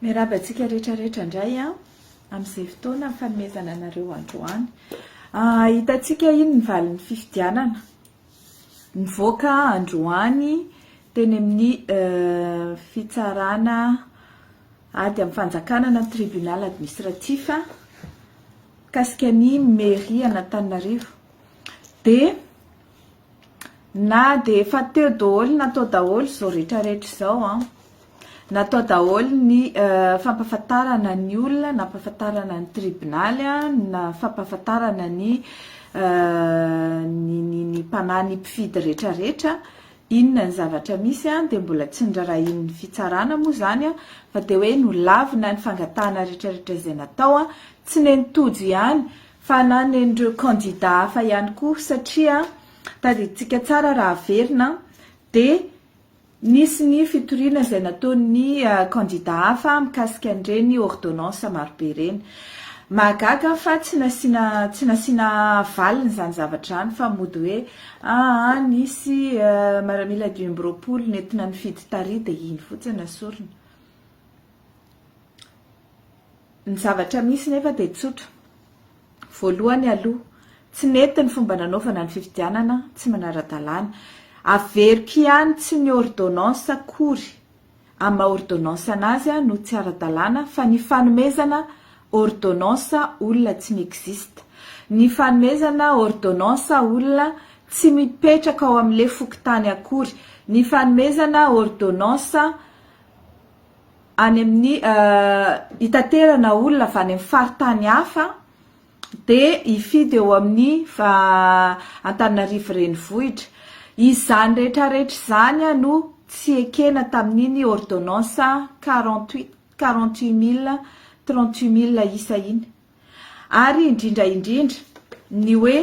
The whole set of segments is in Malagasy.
Miarahaba antsika rehetra rehetra indray a amin'izay fotoana fanomezana anareo androany. Hitantsika iny ny valin'ny fifidianana nivoaka androany teny amin'ny fitsarana ady amin'ny fanjakana na tribunal administratif mikasika ny mairie an'Antananarivo dia Na dia efa teo daholo natao daholo izao rehetrarehetra izao an, natao daholo ny fampahafantarana ny olona, nampahafantarana ny tribonaly, na fampahafantarana ny ny ny mpanahy ny mpifidy rehetrarehetra inona ny zavatra misy an, dia mbola tsy norarahian'ny fitsarana moa izany an, fa dia hoe nolavina ny fangatahana rehetrarehetra izay natao an, tsy nen'i Tojo ihany fa na nen'ireo kandida hafa ihany koa satria tadidintsika tsara raha haverina dia nisy ny fitoriana izay nataon'ny kandida hafa mikasika an'ireny ôrdônansa marobe ireny. Mahagaga fa tsy nasiana tsy nasiana valiny izany zavatra izany fa mody hoe aa nisy maramila dimy amby roapolo nentina nifidy tary dia iny fotsiny no asorina. Ny zavatra misy nefa dia tsotra. Voalohany aloha, tsy nety ny fomba nanaovana ny fifidianana, tsy manara-dalàna. Averiko ihany, tsy ny ordonnance akory amin'ny maha ordonnance anazy no tsy ara-dalàna fa ny fanomezana ordonnance olona tsy mi-existe. Ny fanomezana ordonnance olona tsy mipetraka ao amin'ilay fokontany akory. Ny fanomezana ordonnance. any amin'ny hitaterana olona avy any amin'ny faritany hafa dia hifidy eo amin'ny Antananarivo renivohitra. Izany rehetra rehetra izany no tsy ekena tamin'iny ordonnance quarante huit quarante huit mille trente huit mille isa iny ary indrindra indrindra ny hoe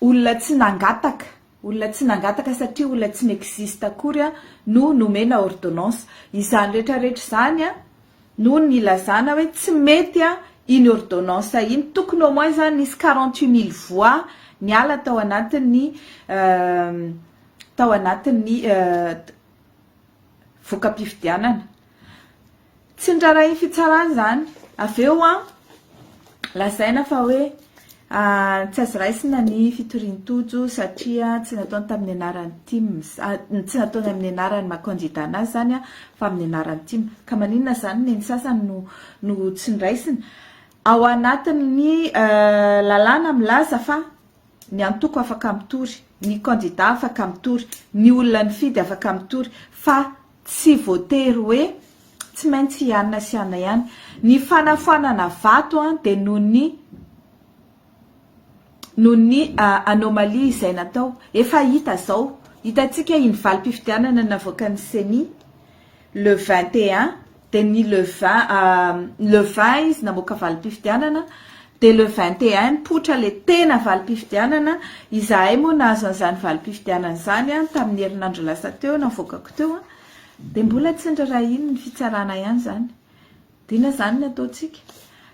Olona tsy nangataka, olona tsy nangataka satria olona tsy n'existe akory no nomena ordonnance. Izany rehetra rehetra izany no nilazana hoe tsy mety iny ordonnance iny. Tokony au moins izany nisy quarante huit mille voix niala tao anatin'ny tao anatin'ny voka-pifidianana. Tsy nirarahin'ny fitsarana izany. Avy eo an, lazaina fa hoe tsy azo raisina ny fitorian'i Tojo satria tsy nataony tamin'ny anaran'ny tim, tsy nataony amin'ny anaran'ny maha kandida anazy izany fa amin'ny anaran'ny tim. Ka maninona izany no neny sasany no no tsy noraisina? Ao anatin'ny lalàna milaza fa ny antoko afaka mitory, ny kandida afaka mitory, ny olona nifidy afaka mitory fa Tsy voatery hoe tsy maintsy hianina sy hianina ihany. Ny fanafoanana vato dia noho ny noho ny anomalie izay natao. Efa hita izao, hitantsika iny valim-pifidianana navoakan'ny ceni le vingt et un dia ny le vingt le vingt izy namoaka valim-pifidianana Dia le vingt et un mipoitra ilay tena valim-pifidianana, izahay moa nahazo an'izany valim-pifidianana izany tamin'ny herinandro lasa teo navoakako teo, dia mbola tsy nirarahian'ny fitsarana ihany izany. Dina izany ny ataontsika.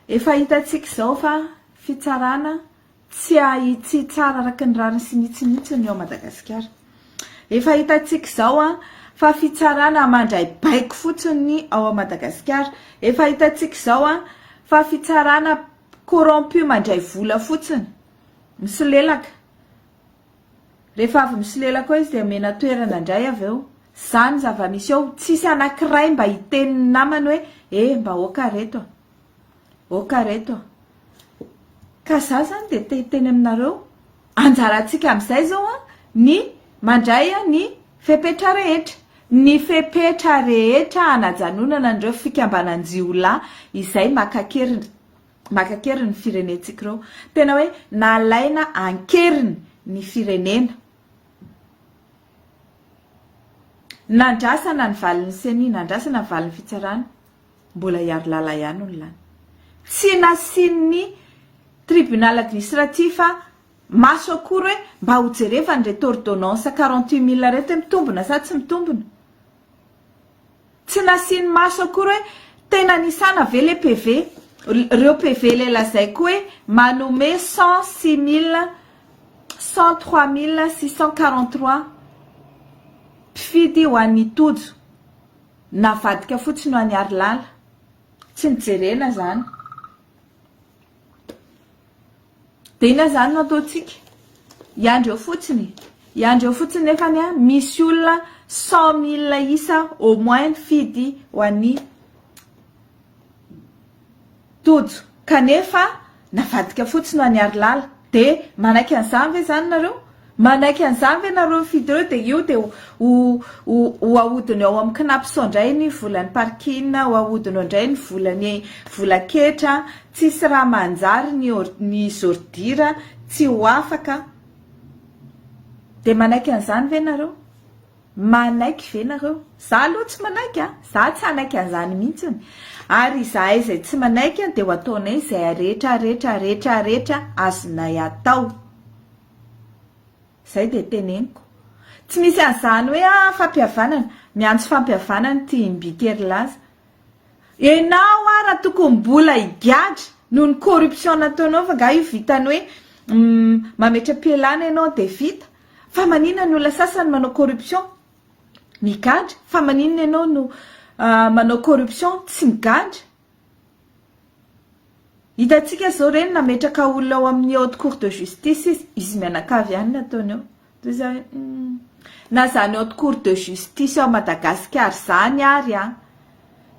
Efa hitantsika izao fa fitsarana tsy ahitsy tsara araka ny rariny sy ny hitsiny mihitsy ny ao Madagasikara. Efa hitantsika izao fa fitsarana mandray baiko fotsiny ny ao Madagasikara. Efa hitantsika izao fa fitsarana corrompu mandray vola fotsiny, misolelaka. Rehefa avy misolelaka eo izy dia omena toerana indray avy eo. Izany zava-misy eo, tsisy anankiray mba hiteny ny namany hoe eh mba aoka ry reto a! Ok ry reto a! Ka za zany dia te hiteny aminareo, anjarantsika amin'izay zao a, ny mandray ny fepetra rehetra, ny fepetra rehetra hanajanonana an'ireo fikambanan-jiolahy izay maka-kery, maka-kery ny firenentsika ireo. Tena hoe nalaina an-keriny ny firenena. Nandrasana ny valin'ny ceni, nandrasana ny valin'ny fitsarana. Mbola i Harilala ihany no lany. Tsy nasian'ny tribunal administratif maso akory hoe mba ho jerevany ireto ordonnance quarante huit mille ireto hoe mitombina sa tsy mitombina. Tsy nasiany maso akory hoe tena nisana ve le PV. Ireo PV ilay lazaiko hoe manome cent six mille cent trois mille six cent quarante trois mpifidy ho an'i Tojo. Navadika fotsiny ho an'i Harilala. Tsy nijerena izany. Dia inona izany no ataontsika? Hiandry eo fotsiny. Hiandry eo fotsiny nefa ny misy olona cent mille isa au moins mifidy ho an'i Tojo, Kanefa navadika fotsiny ho an'i Harilala. Dia manaiky an'izany ve izany nareo? Manaiky an'izany ve nareo hifidy ireo dia io dia ho ho ahodiny ao amin'ny Cnaps-ao indray ny volan'ny parking, ho ahodiny ao indray ny volan'ny vola ketra, tsisy raha manjary ny ny zordira tsy ho afaka. Dia manaiky an'izany ve nareo? Manaiky ve nareo? Za aloha tsy manaiky a! Za tsy hanaiky an'izany mihitsy ony! Ary izahay izay tsy manaiky dia ho ataonay izay aretra aretra aretra aretra azonay atao! Izay dia teneniko! Tsy misy an'izany hoe a! Fampihavanana! Miantso fampihavanana ity Mbitery laza! Enao ara tokony mbola higadra noho ny corruption nataonao fa nga io vitan'ny hoe mametra-pialana enao dia vita? Fa manina ny olona sasany manao corruption migadra fa maninona ianao no manao corruption tsy migadra? Hitantsika zao reny nametraka olona ao amin'ny haute cour de justice izy, izy mianakavy ihany ny ataony ao toy za hoe humm na zany haute cour de justice ao Madagasikara zany ary an!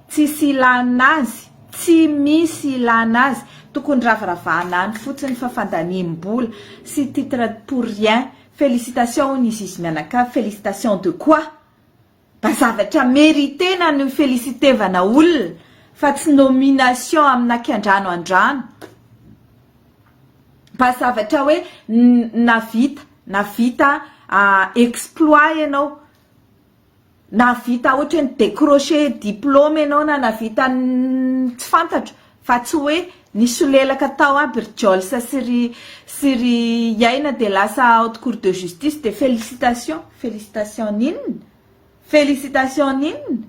Tsisy ilana azy, tsy misy ilana azy, tokony raviravana any fotsiny fa fandaniam bola sy titre pour rien, felicitation hono i Zizi mianakavy, felicitation de quoi? Mba zavatra meritena no felicitevana olona fa tsy nomination amina akiandrano andrano, mba zavatra hoe navita navita exploit ianao, Nahavita ohatra hoe ni-décrocher diplôme ianao na nahavita tsy fantatro fa tsy hoe nisolelaka tao aby ry Jolsa sy ry sy ry Iaina dia lasa haute cour de justice dia félicitations! Félicitations n'inona? Félicitations n'inona?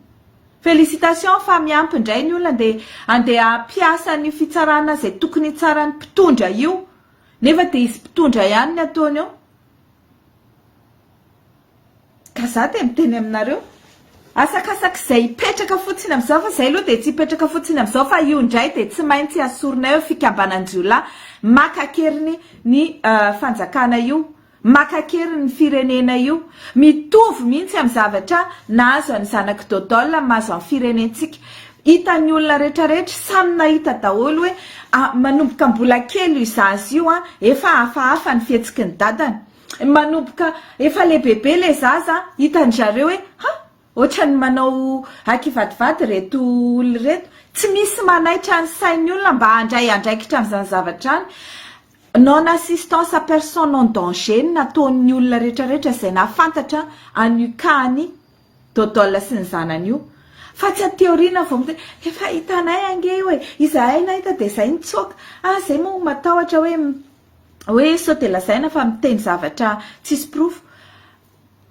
Félicitations fa miampy indray ny olona andeha andeha hampiasa an'io fitsarana izay tokony hitsaran'ny mpitondra io nefa dia izy mpitondra ihany ny ataony eo. Ka za dia miteny aminareo, asakasak'izay hipetraka fotsiny amin'izao, fa izay aloha dia tsy hipetraka fotsiny amin'izao, fa io indray dia tsy maintsy asorina eo fikambanan-jiolahy maka an-keriny ny fanjakana io, maka an-keriny ny firenena io. Mitovy mihitsy amin'ny zavatra nahazo an'i zanak'i Dodol ny mahazo an'ny firenentsika. Hitan'ny olona rehetrarehetra, samy nahita daholo hoe manomboka mbola kely io zaza io, efa hafahafa ny fihetsiky ny dadany. Manomboka efa lehibebe ilay zaza an, hitan-dry zareo hoe ha! ohatran'ny manao hakivadivady ireto olona ireto. Tsy misy manaitra ny sain'ny olona mba handray andraikitra an'izany zavatra izany. Non assistance à personne en danger no nataon'ny olona rehetrarehetra izay nahafantatra an'io cas an'i Dodol sy ny zanany io. Fa tsy aty aoriana vao midera, efa hitanay ange io e, izahay nahita dia izay nitsoaka. Ah, izay moa matahotra hoe hoe sao dia lazaina fa miteny zavatra tsisy porofo.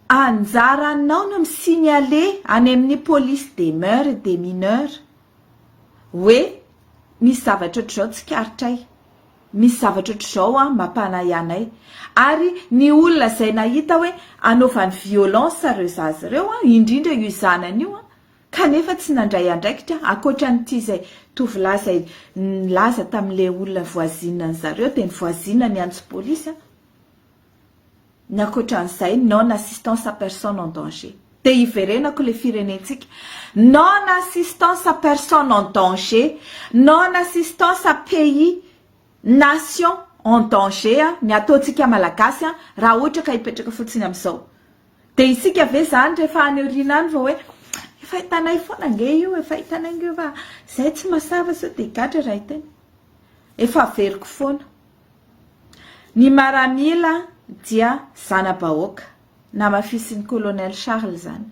Anjaranao no mi-signaler any amin'ny police des mœurs et des mineurs hoe misy zavatra ohatr'izao tsikaritray, misy zavatra ohatr'izao an mampanahy anay. Ary ny olona izay nahita hoe anaovany violence ireo zaza ireo an, indrindra io zanany io an, kanefa tsy nandray andraikitra ankoatran'ity izay tovolahy izay nilaza tamin'ilay olona voisine an'i zareo dia ny voisine niantso polisy an! ny ankoatran'izay non assistance à personne en danger dia hiverenako ilay firenentsika non assistance à personne en danger non assistance à pays nation en danger an! ny ataontsika malagasy an! raha ohatra ka hipetraka fotsiny amin'izao Dia isika ve izany rehefa any aoriana any vao hoe efa hitanay foana ange io, efa hitanay ange io fa izahay tsy masava sao dia gadra raha hiteny. Efa averiko foana. Ny maramila dia zana-bahoaka. Namafisin'i Colonel Charles izany.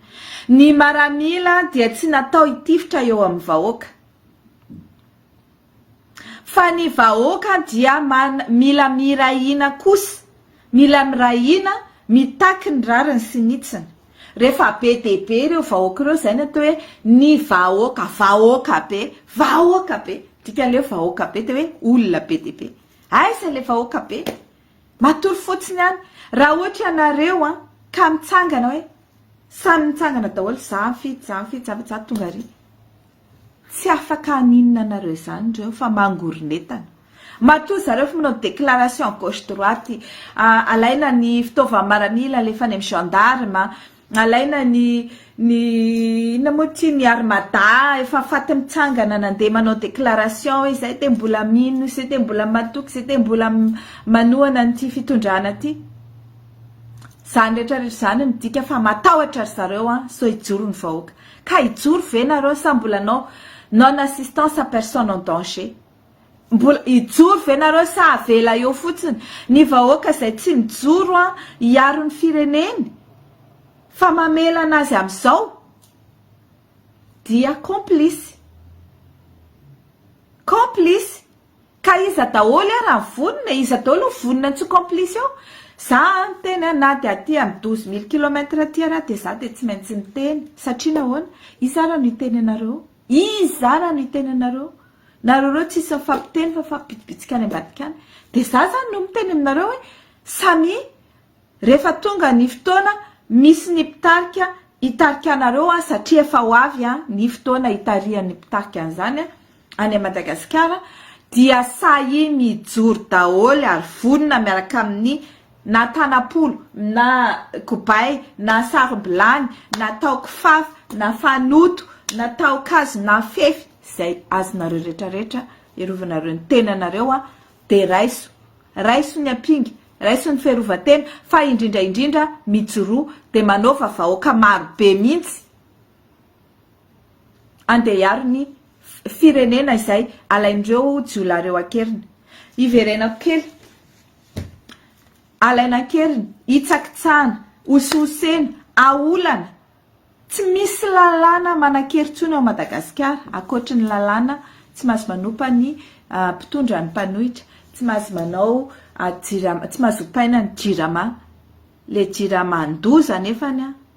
Ny maramila dia tsy natao hitifitra eo amin'ny vahoaka. Fa ny vahoaka dia man mila miray hina kosa, mila miray hina, mitaky ny rariny sy ny hitsiny. Rehefa be dia be ireo vahoaka ireo izay no atao hoe ny vahoaka, vahoaka be, vahoaka be. Dikan'ilay hoe vahoaka be dia hoe olona be dia be. Aiza ilay vahoaka be? Matory fotsiny any. Raha ohatra ianareo an, ka mitsangana hoe samy mitsangana daholo, za mifidy, za mifidy, za mifidy, za tonga ary. Tsy afaka haninona anareo izany ireo fa mangoronetana. Matoa zareo efa manao déclaration gauche droite, alaina ny fitaovana maranila alefa any amin'ny gendarme, alaina ny ny inona moa ity ny armada efa faty mitsangana nandeha manao déclaration hoe izay dia mbola mino, izay dia mbola matoky, izay dia mbola manohana an'ity fitondrana ity. Izany rehetra rehetra izany midika fa matahotra ry zareo an, sao hijoro ny vahoaka. Ka hijoro ve nareo sa mbola no non assistance à personne en danger? Mbola hijoro ve nareo sa avela eo fotsiny ny vahoaka izay tsy mijoro an hiaro ny fireneny fa mamela anazy amizao? Dia complice. Complice. Ka iza daholo e raha vonona e? Iza daholo no vonona tsy ho complice eo? Za an teny an na dia aty am douze mille kilomètre aty ary dia za dia tsy maintsy miteny satria nahoana? Iza ary no hiteny anareo? Iza ary no hiteny anareo? Nareo reo tsisy mifampiteny fa mifampibitsibitsika any ambadika any dia za zany no miteny aminareo hoe samia Rehefa tonga ny fotoana misy ny mpitarika hitarika anareo an, satria efa ho avy an ny fotoana hitarihan'ny mpitarika an'izany an, any Madagasikara dia sahia mijoro daholo ary vonona miaraka amin'ny na tanam-polo na kobay na sarom-bilany na taho kifafa na fanoto na taho kazo na fefy izay azonareo rehetra rehetra hiarovanareo ny tenanareo an, dia raiso, raiso ny ampinga, Raisin'ny fiarovan-tena fa indrindra indrindra mijoroa dia manaova vahoaka maro be mihitsy andeha hiaro ny firenena izay alain'ireo jiolahy ireo an-keriny. Hiverenako kely. Alaina an-keriny, hitsakitsahana, hosihosena, aolana. Tsy misy lalàna manan-kery intsony ao Madagasikara, ankoatry ny lalàna tsy mahazo manompa ny mpitondra ny mpanohitra, tsy mahazo manao jirama, tsy mahazo ompaina ny jirama. Ilay jiraman-doza anefa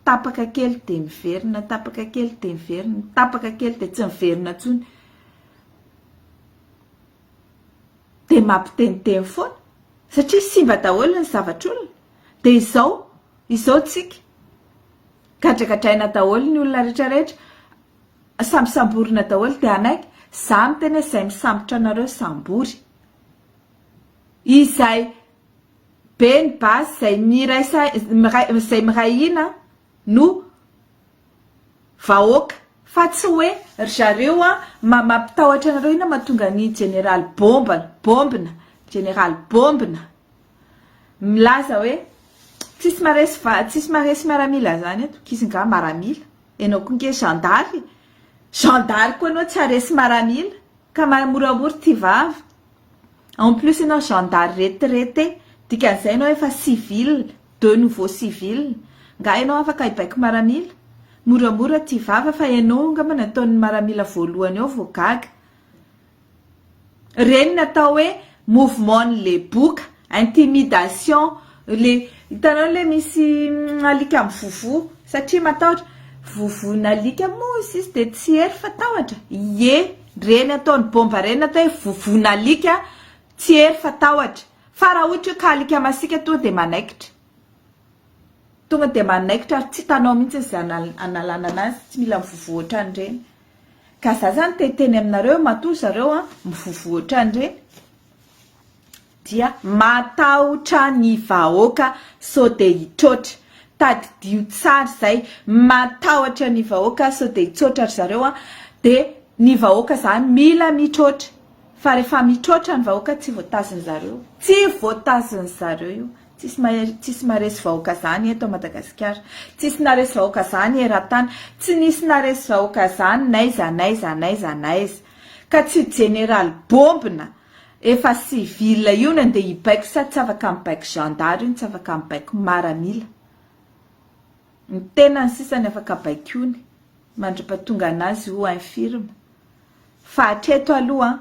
tapaka kely dia miverina, tapaka kely dia miverina, tapaka kely dia tsy miverina intsony. Dia mampiteniteny foana satria simba daholo ny zavatr'olona. Dia izao. Izao tsika, gadragadraina daholo ny olona rehetra rehetra, samy samborina daholo dia hanaiky, za miteny hoe zay misambotra anareo sambory, izay be ny basy, zay miray saina, zay miray hina no vahoaka, fa tsy hoe ry zareo an, mampitahotra anareo inona mahatonga ny jeneraly bombana, bombina, jeneraly bombina. milaza hoe tsisy maresy va- tsisy maresy miaramila zany eto k'izy nga maramila enao ko nge zandary e zandary koa enao tsy haresy maramila ka mahay moramora ty vava en plus enao zandary retraite dikan'izay enao efa civil de nouveau civil nga enao afaka hibaiko maramila moramora ty vava fa enao ngamba ny ataon'ny maramila voalohany ao vao gaga Reny ny atao hoe mouvement ny le boka, intimidation le hitanao le misy alika mivovo satria matahotra, vovon'alika moa hozy izy de tsy hery fa tahotra? ie reny ataony bomba reny atao hoe vovon'alika tsy hery fa tahotra fa raha ohatra ka alika masika tonga de manaikitra tonga de manaikitra ary tsy hitanao mihitsy izay analana anazy tsy mila mivovo otran'ireny. Ka za zany te hiteny aminareo matoa zareo an mivovo otrany reny dia matahotra ny vahoaka so de hitroatra tadidio tsara zay matahotra ny vahoaka so de hitsotra ry zareo an de ny vahoaka zany mila mitroatra fa refa mitroatra ny vahoaka tsy voatazony zareo tsy voatazony zareo io Tsisy mahery, tsisy maresy vahoaka zany eto Madagasikara. Tsisy naresy vahoaka zany eran-tany. Tsy nisy naresy vahoaka zany n'aiza n'aiza n'aiza n'aiza. Ka tsy io jeneraly bombina efa civil io no andeha hibaiko sa tsy afaka mibaiko zandary io no tsy afaka mibaiko maramila. Ny tenany sisa no afaka baikoiny mandripa-tonga anazy ou infirme. Fa hatreto aloha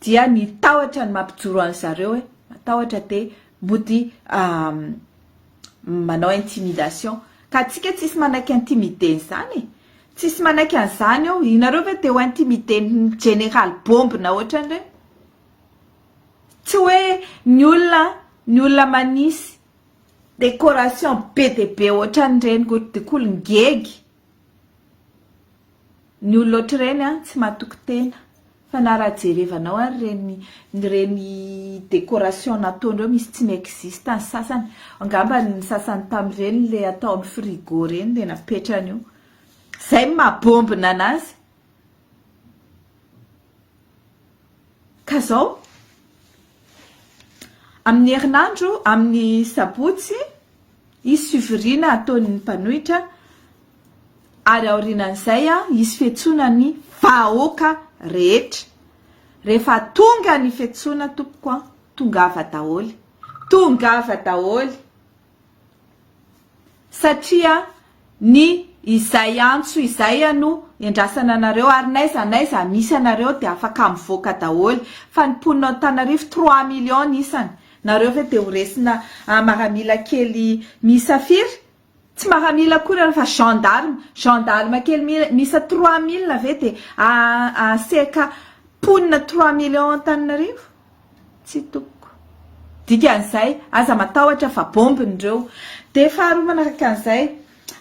dia ny tahotra no mampijoro an zareo e, matahotra de mody manao intimidation ka atsika tsisy manaiky intimider ny zany e, tsisy manaiky an zany eo, inareo ve te ho intimider ny jeneraly bombina otran'ireny? tsy hoe ny olona an, ny olona manisy decoration be de be otran'ireny ko, de ko lingegy Ny olona ohatr'ireny an, tsy matoky tena, fa na raha jerevanao ary ireny ireny décoration nataony ireo misy tsy mi-existe ny sasany, angamba ny sasany tamin'ireny ilay atao amin'ny frigo ireny dia napetrany eo, izay no maha bombina an'azy, ka izao amin'ny herinandro amin'ny sabotsy Hisy fivoriana ataon'ny mpanohitra ary aorianan'izay hisy fiantsoana ny vahoaka rehetra. Rehefa tonga ny fiantsoana tompoko an! Tongava daholo! Tongava daholo! Satria ny izay antso izay ano endrasana anareo ary n'aiza n'aiza misy anareo dia afaka mivoaka daholo fa ny mponina ao Antanarivo trois millions ny isany nareo ve dia ho resina maramila kely miisa firy tsy maramila akory ianareo fa gendarme gendarme kely miisa trois mille ve dia aseka mponina trois millions ao Antananarivo. Tsy tokoko. Dikan'izay, aza matahotra fa bombe ny reo. Dia faharoa manaraka an'izay,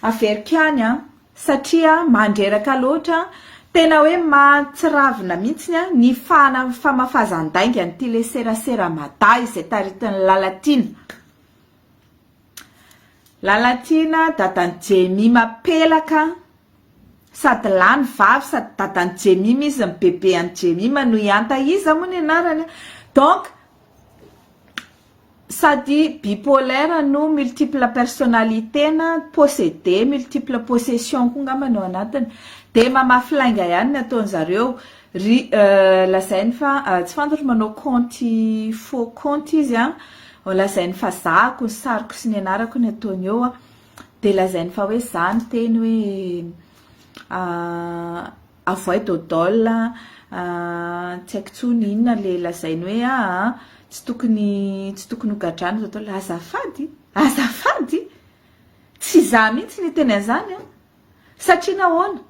averiko ihany an! satria mandreraka loatra, tena hoe mahatsiravina mihitsy ny fahana famafazan-dainga an'ity le serasera Mada izay taritin'i Lalatiana. Lalatiana dadan'i Jemima pelaka an! Sady lany vavy sady dadan'i Jemima izy ny bebe an'i Jemima no hianta iza moa ny anarany an! Donc sady bipolaire no multiple personnalité na possédé multiple possession koa angamba no ao anatiny dia mamafy lainga ihany ny ataon'izareo Ry lazainy fa tsy fantatro manao kaonty faux kaonty izy an, lazainy fa zahako ny sariko sy ny anarako ny ataony eo an, dia lazainy fa hoe za ny teny hoe avoay dodol an, tsy haiko tsony inona le lazainy hoe aa tsy tokony tsy tokony ho gadrana dodol, azafady azafady tsy za mihitsy niteny an'zany an, satria nahoana?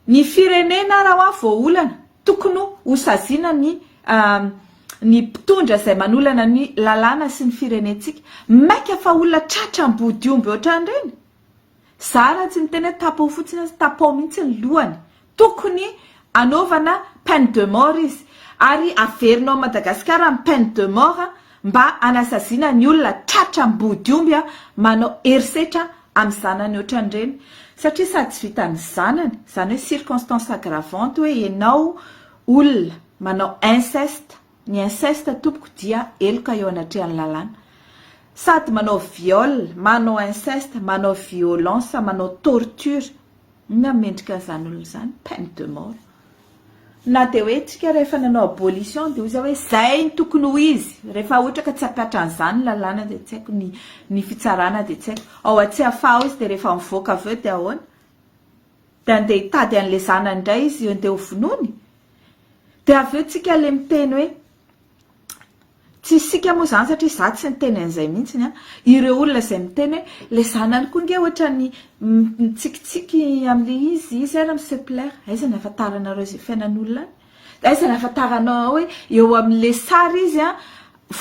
Ny firenena raha hoa voaolana, tokony ho saziana ny ny mpitondra izay manolana ny lalàna sy ny firenentsika. Maika fa olona tratra ambody omby ohatran'ireny? Za raha tsy miteny hoe tapaho fotsiny aza, tapaho mihitsy ny lohany. Tokony anaovana peine de mort izy. Ary averina ao Madagasikara ny peine de mort mba hanasaziana ny olona tratra ambody omby manao herisetra amin'ny zanany ohatran'ireny satria sady tsy vitan'ny zanany, izany hoe circonstance aggravante hoe ianao olona manao inceste, ny inceste tompoko dia heloka eo anatrehan'ny lalàna, sady manao viol, manao inceste, manao violence, manao torture. Inona ny mendrika an'izany olona izany? Peine de mort. Na dia hoe isika rehefa nanao abolition dia hoy za hoe izay ny tokony ho izy. Rehefa ohatra ka tsy hampihatra an'izany ny lalàna dia tsy haiko ny ny fitsarana dia tsy haiko. Ao Antsiafahy ao izy dia rehefa mivoaka avy eo dia ahoana? Dia andeha hitady an'ilay zanany indray izy andeha hovonoiny? Dia avy eo isika ilay miteny hoe Tsy isika moa izany satria izaho tsy niteny an'izay mihitsy an! Ireo olona izay miteny hoe ilay zanany koa ange ohatran'ny mitsikitsiky amin'ilay izy izy ary mi se plaire. Aiza ny ahafantaranareo izay fiainan'olona any? Dia aiza ny ahafantaranao hoe eo amin'ilay sary izy an,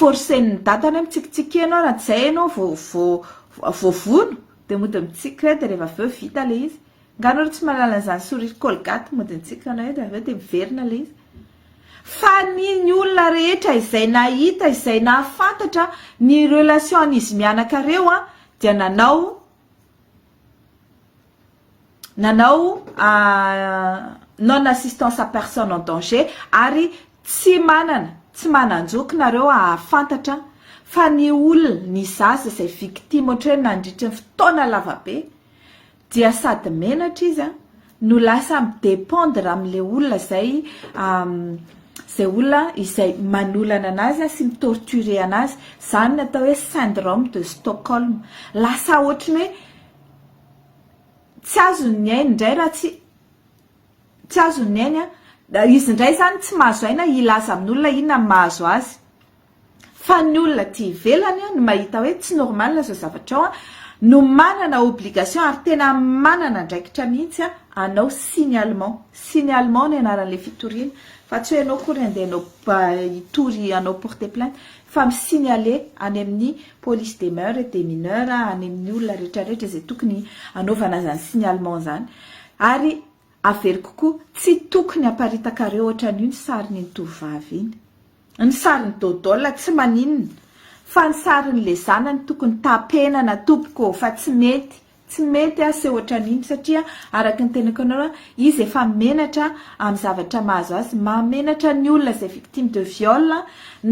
forcen'ny dadany hoe mitsikitsiky ianao raha tsy izay ianao vao vao voavono? Dia mody mitsiky ireto dia rehefa avy eo vita ilay izy. Angaha nareo tsy mahalala an'izany sourire colgate mody nitsiky anao eo dia avy eo dia miverina ilay izy? Fa ny ny olona rehetra izay nahita izay nahafantatra ny relation an'izy mianaka reo an dia nanao nanao non assistance à personne en danger ary tsy manana tsy manan-joky nareo hahafantatra fa ny olona ny zaza izay victime ohatra hoe nandritry ny fotoana lavabe dia sady menatra izy an, no lasa mi dependre amin'ilay olona izay izay olona izay manolana anazy an sy mi torturer anazy, izany no atao hoe syndrome de Stockholm, lasa ohatry ny hoe tsy azony ny ainy indray raha tsy tsy azony ny ainy an, izy indray izany tsy mahazo aina hilaza amin'olona inona no mahazo azy. Fa ny olona aty ivelany no mahita hoe tsy normal izao zavatra izao no manana obligation ary tena manana andraikitra mihitsy anao signalement. Signalement ny anaran'ilay fitoriana fa tsy hoe ianao akory handeha hanao hitory hanao porter plainte fa mi signaler any amin'ny police des mœurs et des mineurs any amin'ny olona rehetra rehetra izay tokony hanaovana izany signalement izany ary averiko koa tsy tokony haparitakareo ohatran'io ny sarin'iny tovovavy iny. Ny sarin'i Dodol tsy maninona fa ny sarin'ny le zanany tokony tapenana tompoko ô fa tsy mety tsy mety aho se otran'iny satria araka ny tenako anao a izy efa menatra amin'ny zavatra mahazo azy mahamenatra ny olona zay victime de viol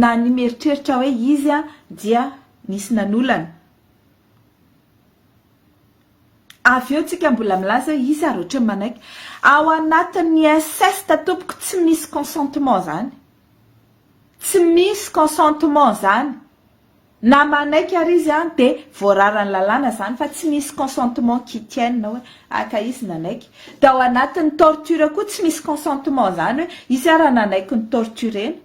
na ny mieritreritra hoe izy a dia nisy nanolana avy eo tsika mbola milaza hoe izy ary ohatran'ny manaiky ao anatin'ny inceste tompoko tsy misy consentement zany Tsy misy consentement zany. Na manaiky ary izy an de voararan'ny lalàna zany fa tsy misy consentement qui tienne hoe ah ka izy nanaiky. De ao anatin'ny torture koa tsy misy consentement zany hoe izy ara nanaiky ny torturena.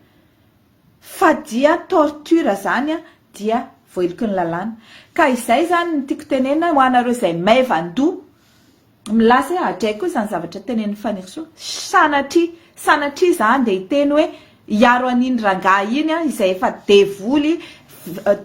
Fa dia torture zany an dia voaheloky ny lalàna. Ka izay zany ny tiako tenenina ho anareo izay maivan-doha Milaza hoe adray koa izany zavatra tenenin'i Fanirisoa. Sanatria, sanatria izaho handeha hiteny hoe hiaro an'iny rangahy iny aho izay efa devoly,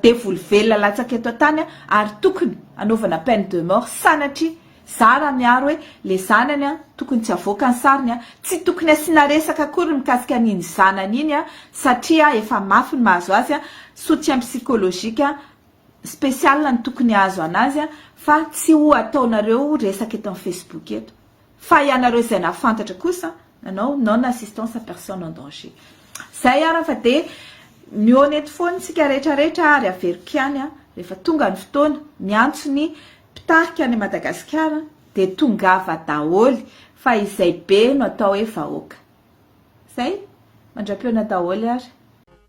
devoly velona latsaka eto an-tany ary tokony hanaovana peine de mort. Sanatria, izaho raha miaro hoe ilay zanany tokony tsy havoaka ny sariny, tsy tokony hasiana resaka akory mikasika an'iny zanany iny satria efa mafy ny mahazo azy, soutien psychologique. spécial no tokony hahazo anazy fa tsy ho ataonareo resaka eto amin'ny Facebook eto fa ianareo izay nahafantatra kosa nanao non assistance à personne en danger izay ary fa dia mihaona eto foana isika rehetra rehetra ary averiko ihany rehefa tonga ny fotoana miantso ny mpitarika any Madagasikara dia tongava daholo fa izay be no atao hoe vahoaka izay mandram-peona daholo ary